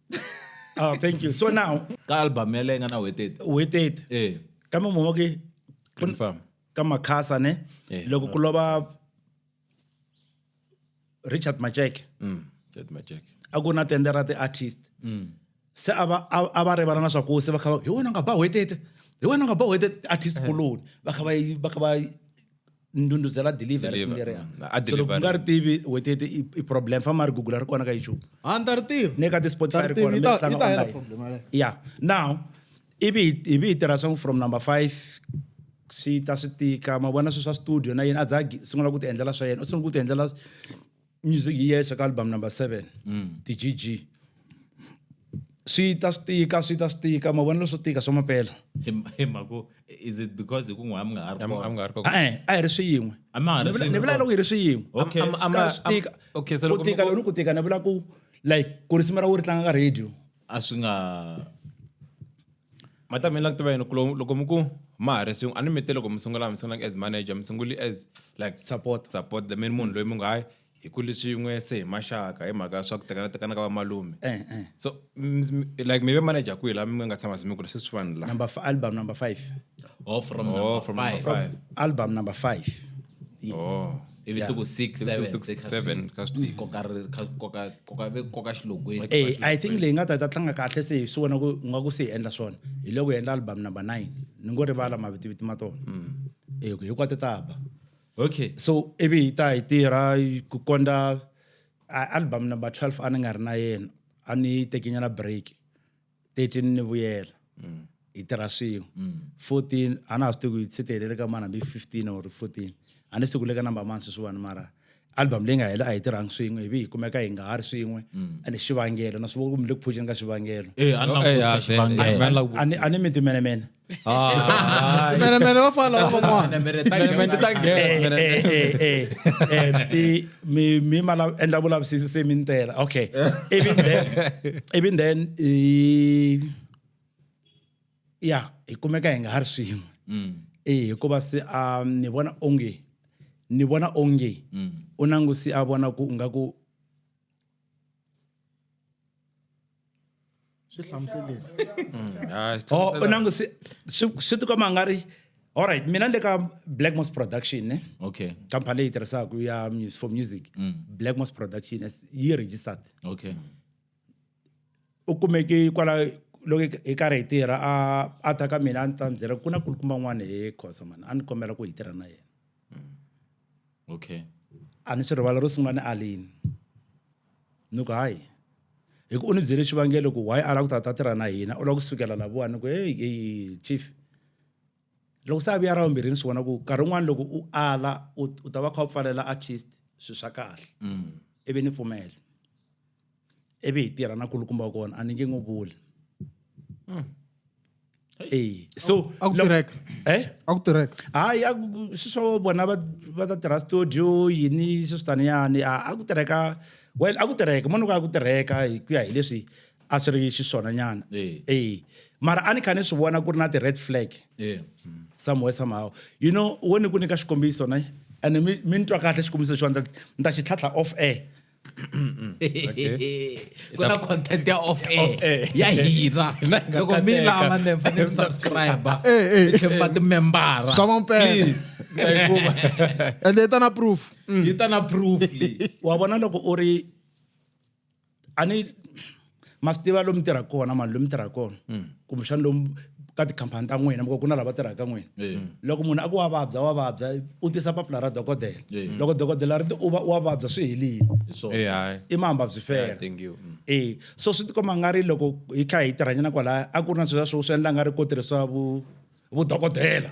oh thank you so now ka album ya leyi nga na wetete wetete eh kambe mhoma ke confirm ka makhasa ne eh. loko ku lova richard macheke mm richard macheke a ku na tende ra ti-artist mm. se a va a va rivala na swaku se va kha hi wena nga ba wetete hi wena nga ba wetete artist eh. kuloni va kha va va kha va ndhundhuzela deliver ri Deliver, leri mm, a so loko deliver- ku nga ri tivi wait wait i- i problem famba ri google ri kona ka youtube a ni ta ri tiva ne ka ti-spotify Ta ri ri tiva, kona yi mi ta- tlanga yi ta hela online. problem yaleyo. yeah now ivi hi- ivi hi tirha swa from number five swi ta swi tika ma vona swi swa studio na yena a za a gi- sungula ku ti endlela swa yena u sungula ku ti endlela music yi yexe ka album number seven mm. ti-gg swi ta swi tika swi ta swi tika mavonelo swo tika swa mapela hi mhaka is it because hi ku n'wi a mi nga ha ri kona a mi nga ha ri kona a eh, a hi ri swiyin'we a ma ha ri swiyin'we ni vula loko hi ri swiyin'we okay swi tika okay so loko ku tika loko ku tika ni vula ku like ku risimu ra wo ri tlanga ka radio a swi nga matameni la ku tiva yini ku loko mi ku ma ha ri swin'we a ni mi te loko mi sungula mi sungulanga as manager mi sunguli as like support support the main munhu loyi mi nga hayi hi kuli swin'we se hi maxaka hi mhaka swa ku tekana tekana ka vamalume eh, eh. so like mi ve manager kwihi la mi nga tshama se mi kuli sweswi vanhu la number album number five oh from, oh, number, from five. number five album number five yes. oh. ivi Yeah. ti ku six Ivi seven ti ku six, seven, ka swi tika. koka ri- ka- koka- koka- ve- koka xilogweni Eh, i think leyi nga ta ta tlanga kahle se hi swi vona ku nga ku se hi endla swona hi loko hi endla album number nine ni ngo rivala mavitiviti ma tona Eh, ku hinkwato ta ba okay so ivi hi ta hi tirha hi- ku kondza a- album number 12 a ni nga ri na yena a ni tekenyana break 13 ni vuyela mm. hi tirha swin'we mm. 14 a na ha swi tivi ku yi se ti helele ka mani hambi 15 or 14 a ni swi tivi ku le ka number mani sweswiwani mara album leyi nga hela a hi tirhangi swin'we ivi hi kumeka hi nga ha ri swin'we mm. ene xivangelo na swi vona ku mi le ku phujeni ka xivangelo eh, a ni eh, miti menemene Ah, men, men, det var fan lov för mig. Men det tack. Men det tack. Mi mi mala en double up sisi se min tela. Okay. Even then. Even then. Yeah, ikumeka inga har swimo. Mm. Eh, ko ba se a um, ni bona onge. Ni bona onge. Mm. Unangu si a bona ku ngaku swi hlamuseleni mm, u nangu swi tikomba a nga ri allright mina ni le ka black mos production ne okay company leyi tirhisaka ya for music mm. black mos production yi registered okay u kumeke kwala loko hi karhi hi tirha a a ta ka mina a ni ta ni byela ku na kulukumba n'wana he khosa mani a ni kombela ku hi tirha na yena mm. okay a ni swi rivala ro sungula ni alini ni ku hayi hi ku u ni byele xivangelo ku why a lava ku ta ta tirha na hina u lava ku sukela laviwani ku heyi heyi chief loko se a vuya ra vumbirhi ni swi vona ku nkarhi wun'wani loko u ala u u ta va kha u pfalela at least swilo swa kahle mm. ivi ni pfumela ivi hi tirha na kulukumba kona a ni nge n'wi vuli mm. ee so a ku tirheka eh a ku tirheka hayi a ku- swi swo vona va va ta tirha studio yini swi switaniyani a a ku tirheka well a ku tirheka munhu ku a ku tirheka hi ku ya hi leswi a swi ri xiswona nyana Eh. ee mara a ni kha ni swi vona ku ri na ti-red flag Eh. somewhere somehow you know wo ni ku nyika xikombiso ne ene mi mi ni twa kahle xikombiso lexiwa ni ta xi tlhatlha off air ku na content ya off air ya hina loko mi lava mi fanele mi subscribe tlhelo va timembara swa mampela ende yi ta na proof yi ta na proof wa vona loko u ri a ni ma swi tiva lomu tirhaka kona mani lomu tirhaka kona mm. kumbexana lomu ka tikhampani ta n'wina miko ku na lava tirhaka n'wina loko munhu a ku wa vabya wa vabya u tisa papila ra dokodela loko dokodela ri ti u va wa vabya swi helile i mamba byi fela mm. e so swi tikomba nga ri loko hi kha hi tirhanyana kwalaya a ku ri na sweswa swo swi endla nga ri ko tirhisiwa vu vudokodela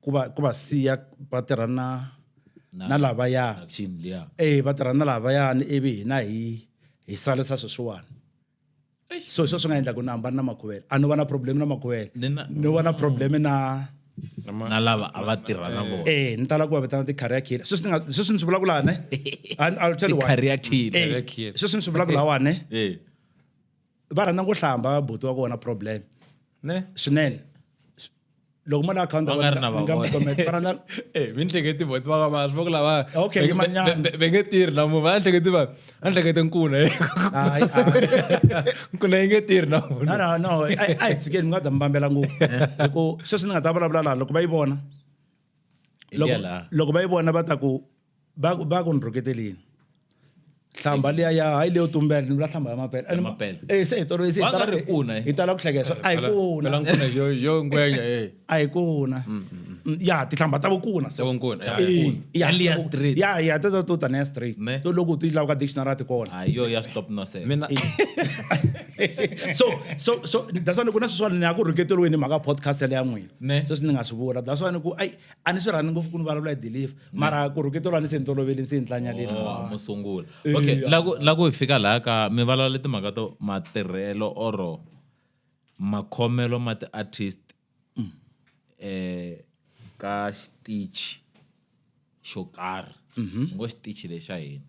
ku va ku va siya va tirha na na lavaya eh va tirha na lavayani ivi hina hi hi salisa sweswiwani so hi sweswo swi nga endla ku ni hambani na makhuvela a no va na problem na makhuvela no va na problem na na lava a va tirha na vona eh ni tala ku va vitana ti-career killer sweswi nga sweswi ni swi vulaka lani i'll tell you why career killer eh, sweswi ni swi vulaka lawani eh va rhandza ku hlamba buti wa kona problem ne swinene loko mo la akhawunti nga ri na va vona eh mi nhleketi boti va va swi va ku lava okay yi manyana ve nge tirhi na munhu va nhleketi va a nhlekete nkuna hayi nkuna yi nge tirhi na munhu no no a hi tshikeni mi nga za mi vambela ngopfu hikuva sweswi ni nga ta vulavula laha loko va yi vona loko loko va yi vona va ta ku va ku va ku ni rhuketelini hlamba liya ya hayi leyo tumbela ni vula hlamba ya mapele Ya mapele. eh se hi tolo se hi Wa nga tala ri kuna, eh. hi tala ku hlekesa a hi kuna pelankuna yo yo ngwenya e a hi kuna Mm, ya tihlamba ta vukuna so Tavukuna, ya, Eh, vukuna. ya, Ya liya ta vu- straight. ya ya ta ta to ta neya straight Ne. to loko ti lava ka dictionary ti kona hayi yo ya stop no se mina so so so that's why ni ku na sweswiwani ni ya ku rhuketeriweni hi mhaka podcast yale ya n'wina Ne. sweswi ni nga swi vula that's why ni ku ai a ni swi rhandi ngopfu ku ni vulavula hi deliver mara ku rhukito lwani se ni toloveli se ni tlanya leni Oh, mo sungula Eh, okay ya. la ku la ku hi fika laha ka mi vulavule timhaka to matirhelo or makhomelo ma ti-artist Mm. eh ka xitichi xo karhi Mhm. ni ngo xitichi lexa hina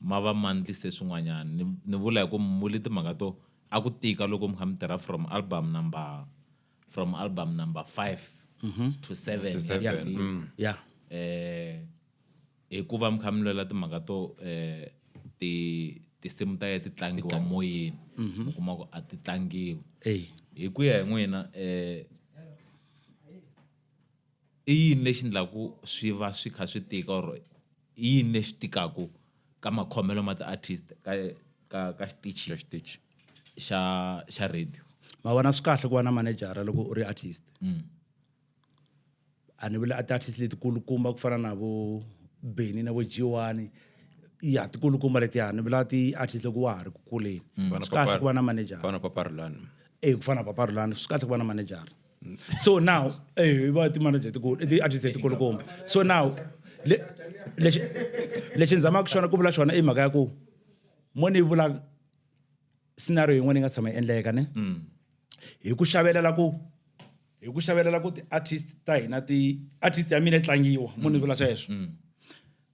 ma va ma ndlise swin'wanyana ni ni vula hi ku mi vule timhaka to a ku tika loko mi kha mi tirha from album number from album number five to seven To seven, ya Big. mm. ya eh hikuva mi kha mi lwela timhaka to eh ti tinsimu ta ye ti tlangiwa moyeni mi kuma ku a ti tlangiwi eyi hi ku ya hi n'wina eh i yini lexi endlaku swi va swi kha swi tika or i yini lexi tikaku ka makhomelo ma ti-artist ka ka ka xitichi ka xitichi xa xa radio? Ma vona swi kahle ku va na manejara loko u ri artist mm. a ni vuli a ti-artist letikulukumba ku fana na vo Benny na vo G1 ya tikulukumba letiya ni vula ti-artist loko wa ha ri ku kuleni mm. swi kahle ku va na manejara eku fana na paparulani swi kahle ku va na manejara so now eh va ti-manager tikulu i ti-artist letikulukumba so now le lexi lexi ni zamaka xona ku vula xona i mhaka ya ku mo ni vula scenario yin'wana yi nga tshama yi endleka ne mm. hi ku xavelela ku hi ku xavelela ku ti-artist ta hina ti-artist ya mina yi tlangiwa mo ni vula sweswo mm.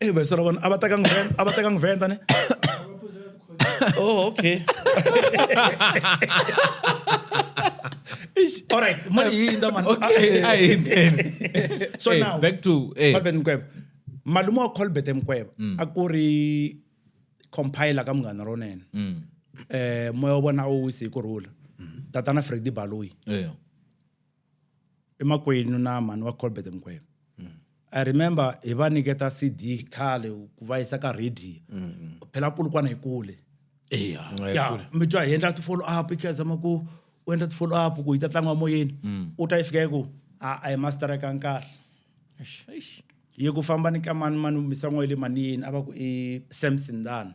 Eh, ba sala bona abata kang vent, abata kang vent ane. Oh, okay. All right, mali yini nda man. Okay, Ah, eh. ayi man. So Hey, now back to eh Colbert Mkweba. Malume wa Colbert Mkweba a ku ri compiler ka munghana lonene. mm Eh moya wa vona a wu wisi hi ku rhula. Tatana Freddy Baloyi. eh i makwenu na mhani wa colbert mgwebe mm. i remember hi va niketa cd khale ku va yisa ka radio mm. phela kulukwana hi kule ya mi twa hi endla ti-follow up i khazama ku u endla ti-follow up ku yi ta tlangiwa moyeni mm. u ta yi fika yi ku a a hi masterekang kahle ye ku famba ni ka mani mani misan'wa yi le manini a va ku i samson dana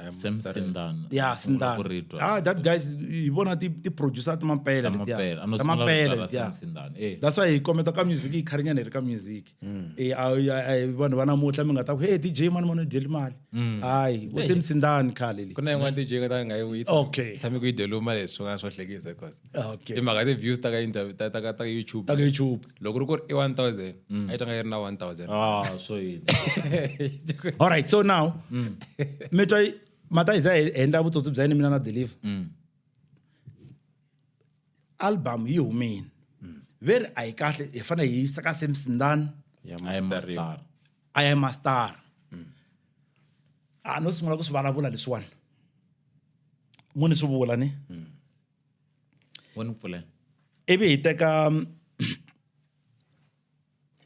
Sam Sindana. Yeah, Sindana. Kuritwa. Ah, that guys, hi vona ti ti producer ta mampela Ta letiya. mampela. Ano Ta sungula mampela kudala letiya. Sam Sindana. Eh. That's why hi kometa ka music hi kharinyana hi ri ka music. Eh, a- a- a- vanhu va namuntlha mi nga ta ku hey DJ mani mani u dyeli mali. Hayi, u Sam Sindana khale le. ku na yin'wana dj nga ta nga yi witsa Okay. tshame ku yi deluma leswi swin'wana swo hlekisa cause Ah, okay. i mhaka ya ti-views ta ka interview ta ta ka ta ka youtube ta ka youtube loko ri ku ri i 1000 a yi tanga yi ri na 1000 ah so yini all right so now mi twa yi- mata hi za hi endla vutsotsi bya yini mina na deliver album yi humini ve ri a yi kahle hi fanele hi yisa ka sam sindani Ya I am a master. star. i am a star a no sungula ku swi vulavula leswiwani mo ni swi vula ni wa ni pfulela ivi hi teka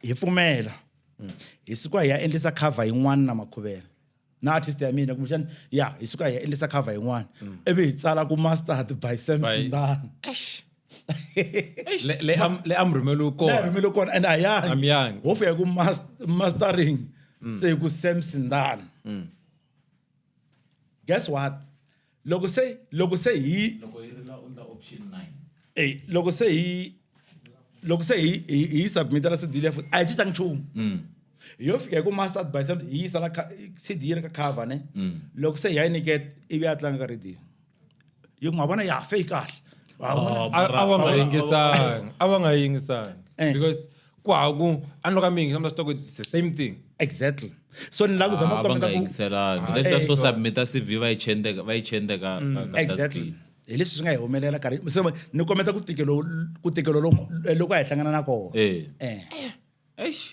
hi pfumela hmm. hi suka hi ya endlisa cover yin'wana na makhuvela na artist ya mina kumbexani ya hi suka hi ya endlisa cover yin'wana hmm. ivi hi tsala ku mastard by sam sindana le amrhumeli konaamrhumeli kona and ayangi ho fika ku mastering hmm. se ku sam sindana guess what loko se loko se hi loko yi ri la u endla option 9 ey loko se hi loko se hi hi hi yi submita la cd leya futhi a yi cincanga nchumu hi yo fika hi ku master by sound hi yisa la kha- cd yi ri ka cover ne loko se hi ya yi niketa ivi ya tlanga ka radio yi ku ma vona ya se yi kahle Wa vona? Oh, a a va nga yingisanga a va nga yingisanga Eh. because kwaku a ni lo ka mi yingisa mi ta swi tiva ku it's the same thing exactly so ni lava ku zama Ah, ku va nga kombeta ku yingiselanga Ah, leswiya eh, swo so- submita cv va yi chende va yi chende ka ka- ka dustbin. exactly hi leswi swi nga hi humelela karhi se ma- ni kombeta ku tikelo ku tikelo lo- loko a hi hlangana na kona Eh. eh Eish.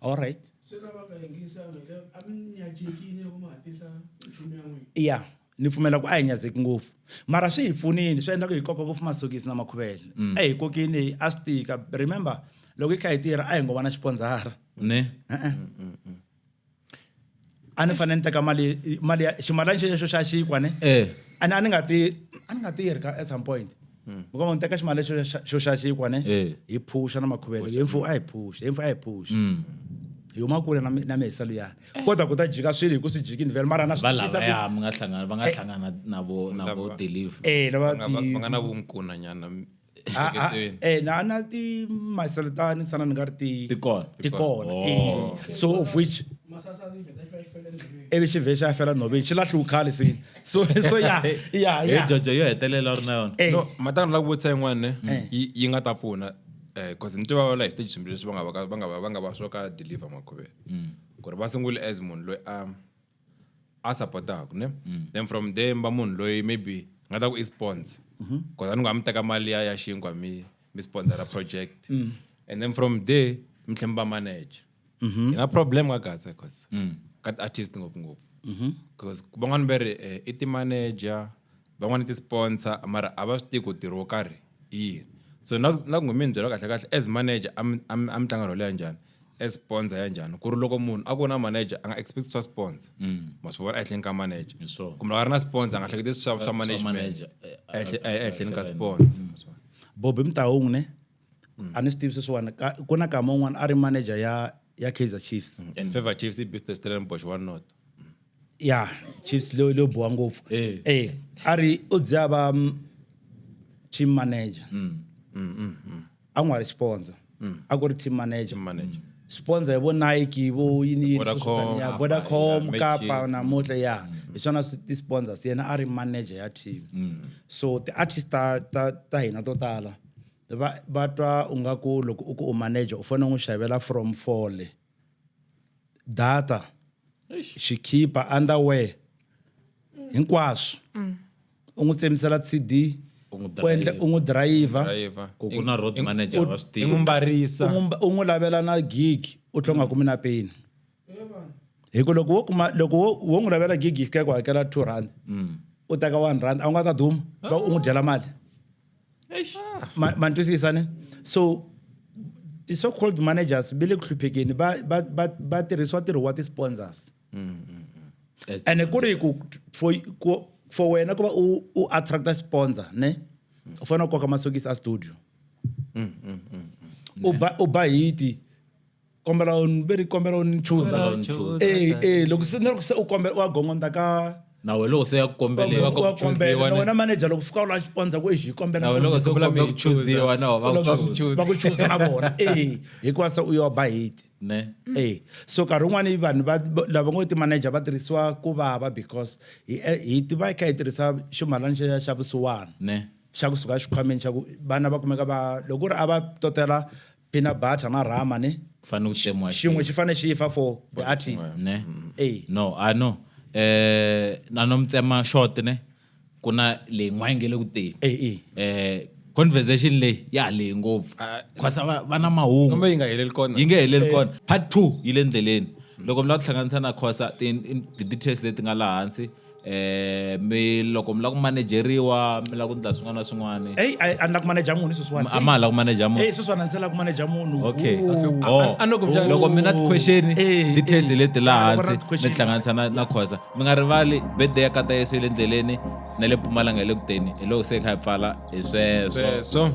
all right se lava nga yingisanga a mi nyajekile ku ma hatisa nchumu ya n'wina ya ni pfumela ku a hi nyazeki ngopfu mara swi hi pfunile swi endla ku hi koka ngopfu masokisi na makhuvele mm. a hi kokini a swi tika remember loko hi kha hi tirha a hi ngo va na xipondzara ne a ni fanele ni teka mali mali ya ximalani xexo xa xikwa ne eh. a ni a ni nga ti a ni nga tirhi ka at some point mm. muka va ni teka ximali xo xa xikwa ne eh. hi phusha na makhuvele hi mfu a hi phusha hi mfu a hi phusha mm. hi huma kule na na mihisa luyani eh. kodwa ku ta jika swilo hi ku swi jikini vele mara na swivalaya mi nga hlangana va nga eh. hlangana na vo na vo deliver eh lava ti va nga na vumkuna nyana ah, ah, eh na na ti maselitani sana ni nga ri ti ti kona ti kona oh. so of which ivi xi vhe xi ya fela nhoveni xi lahliwu khale se so so ya ya ya jojo yo hetelela u ri na yona no matana la ku vutisa yin'wana ne mm. yi nga ta pfuna because eh, ni tiva va la hi stage swimbirhi leswi va nga va va nga va va nga va swo ka deliver makhuveni mm. ku ri va sungule as munhu loyi a a supportaka ne mm. then from there mba munhu loyi maybe nga ta ku i sponsor mm-hmm. cause a ni nga mi teka mali ya ya xinkwa mi mi sponsora project mm. and then from there mi tlhe mi va manager mm-hmm. yi na problem ka gasa cause mm. ka ti-artist ngopfungopfu mm-hmm. cause van'wani va ri eh, i ti-manager van'wana ti-sponsor mara a va swi tivi ku ntirho wo karhi i yini so na na ku mi ni byela kahle kahle as manager a mi a mi a mi tlanga role ya njhani as sponsor ya njhani ku ri loko munhu a ku na manager a nga expect swa sponsor ma swi vona ehenhleni ka manager Hi swona. kumbe loko a ri na sponsor a nga hleketi swa swa management manager, eh, ehenhla- eh, ehenhleni ka sponsor Bobby Mtaung ne mm. a ni swi tivi sweswiwani ku na kama un'wana a ri manager ya ya kaizer chiefs mm. and favor chiefs i business stellenbosch wa not ya chiefs leyo leyo boha ngopfu eh. eh a ri u dze a va mm, team manager mm. Mm, mm, mm. a n'wi wa ri sponsor mm. a ku ri team manager, team manager. Mm sponsor vo nike vo yini vodacom kapa namuntlha ya hi mm. swona ti-sponsors yena a ri manager ya team mm. so ti-artist ta ta ta hina to tala va va twa u nga ku loko u ku u manager u fanele u n'wi xavela from fole data xikhipha underwear hinkwaswo mm. u n'wi tsemisela cd u n'wi dirayivha u n'wi lavela na gig u tlhe u nga kumi na peni hi ku loko wo kuma loko wo wo n'wi lavela gig yi fika ku hakela two rand mm. u teka one rand a wu nga ta duma va u n'wi dyela mali ah. ma ni twisisa ni so ti-so called managers va le ku hluphekeni va va va va tirhisiwa ntirho wa ti-sponsors mm, mm, mm. ene ku ri ku for ku for wena ku va u u attracta sponsor ne u fanele u koka masokisi a studio u ba u ba hiti kombela ve ri kombela u ni chuza loko se ni ri ku se u kombela u wa gongondza ka na wena loko se ya kukombeleka ku chuziwa na wena manager loko fika u la xipondza ku exi kombela na wena loko se kombela ku chuziwa na va ku chuza va ku chuza na vona eh hikuva se u yo ba hate ne eh so ka rin'wana vanhu va lava ngo ti manager va tirhisiwa ku vava because hi eh, hi tiva kha hi tirhisa ximalana xa xa vusiwana ne xa kusuka xikhwameni xa ku vana va kumeka va loko ri a va totela Peanut butter na rama ne. Ku fanele ku tsemiwa xin'we. Xin'we xi fanele xi fa for the artist. Ne? Ey. No, I know. Eh, na no mi tsema short ne. Ku na leyi n'wana yi nge le ku teni. Ey, ey. Eh, conversation leyi ya ha lehe ngopfu. Ah, Because va va na mahungu. Kumbe yi nga heleli kona. yi nge heleli kona part two yi le ndleleni loko mi lava ku hlanganisa na khosa ti- ti-details leti nga laha hansi Eh mi loko mi la ku manejeriwa mi la ku ndla swin'wana na swin'wana. Hey a ni la ku maneja munhu sweswiwani. A ma la ku maneja munhu. Hey sweswiwani a ni se la ku maneja munhu. Okay. Oh. Loko mi na question details leti laha hansi mi hlanganisa na na khosa. Mi nga rivali birthday ya kata Yesu le ndleleni na le Mpumalanga le kuteni. Hi loko se kha hi pfala hi sweswo. Sweswo.